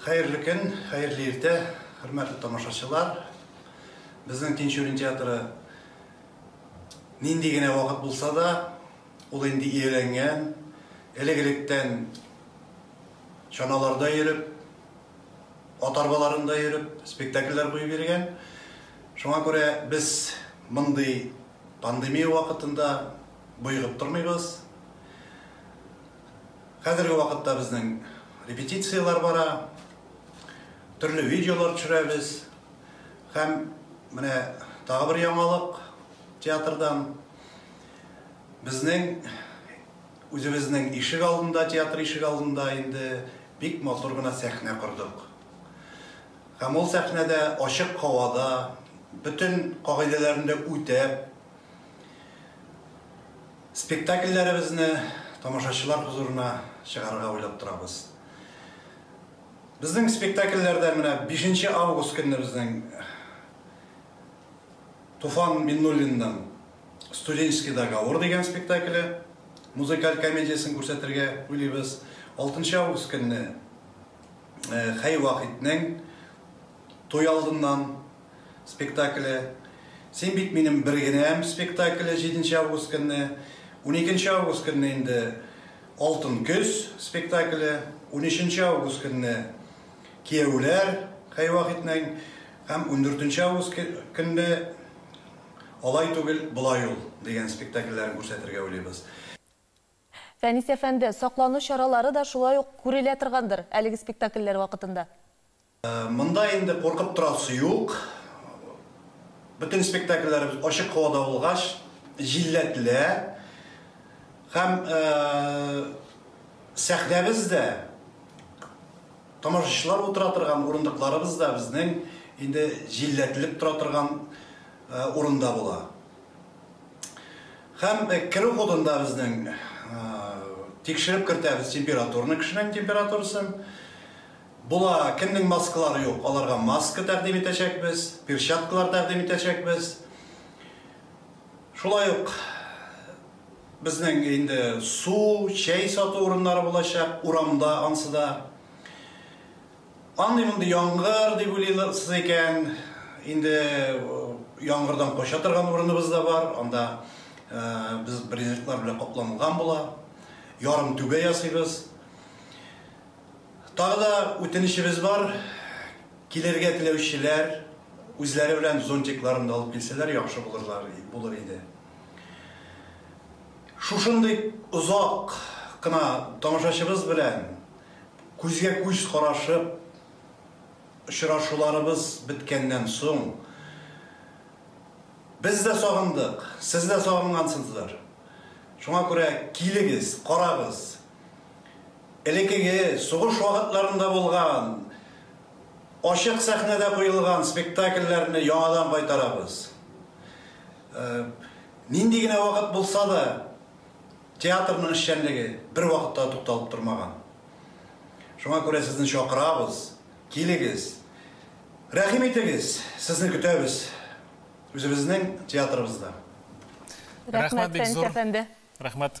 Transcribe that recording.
Хәерле көн, хәерле иртә, хөрмәтле тамашачылар! Безнең Тинчурин театры нинди генә вакыт булса да, ул инде ияләнгән, элек-электән чаналарда йөреп, ат арбаларында йөреп, спектакльләр куеп йөргән. Шуңа күрә без мондый пандемия вакытында боегып тормыйбыз. Хәзерге вакытта безнең репетицияләр бара, төрле видеолар төшерәбез. Һәм менә тагы бер яңалык театрдан. Безнең үзебезнең ишек алдында, театр ишек алдында инде бик матур гына сәхнә кордык. Һәм ул сәхнәдә ачык һавада, бөтен кагыйдәләрен дә үтәп, Спектакльләребезне тамашачылар хозурына чыгарырга уйлап торабыз. Безнең спектакльләрдә менә бишенче август көнне безнең Туфан Миннуллинның Студенческий договор дигән спектакле, музыкаль комедиясен күрсәтергә уйлыйбыз. Алтынчы август көнне Хәй Вахитнең Туй алдыннан спектакле, Син бит минем бер генәм спектакле 7 нче август көнне, 12 нче август көнне инде Алтын көз спектакле, 13 нче август көнне Кияүләр Хәйвахитнең һәм 14 нче август көнне Алай түгел, болай ул дигән спектакльләрен күрсәтергә уйлыйбыз. Фәнис әфәнде, саклану чаралары да шулай ук күрелә торгандыр әлеге спектакльләр вакытында? Монда инде куркып торасы юк. Бөтен спектакльләребез ачык һавада булгач, җилләтелә. Һәм сәхнәбез дә, тамашачылар утыра торган урындыкларыбыз да безнең инде җилләтелеп тора торган урында була. Һәм керү ходында безнең тикшереп кертәбез температураны, кешенең температурасын. Була, кемнең маскалары юк, аларга маска тәкъдим итәчәкбез, перчаткалар тәкъдим итәчәкбез. Шулай ук безнең инде су, чәй сату урыннары булачак, урамда ансы да. Андый мондый яңгыр дип уйлыйсыз икән, инде яңгырдан кача торган урыныбыз да бар, анда без брезентлар белән капланган була, ярым түбә ясыйбыз. Тагы да үтенечебез бар, килергә теләүчеләр үзләре белән зонтикларын да алып килсәләр яхшы булырлар, булыр иде. Шушындый озак кына тамашачыбыз белән күзгә күз карашып очрашуларыбыз беткәннән соң, без дә сагындык, сез дә сагынгансыздыр. Шуңа күрә килегез, карагыз. Элекеге, сугыш вакытларында булган, ачык сәхнәдә куелган спектакльләрне яңадан кайтарабыз. Нинди генә вакыт булса да, театрның эшчәнлеге бервакытта да тукталып тормаган. Шуңа күрә сезне чакырабыз, килегез, рәхим итегез, сезне көтәбез үзебезнең театрыбызда. Рәхмәт бик зур. Рәхмәт, Фәнис әфәнде. Рәхмәт.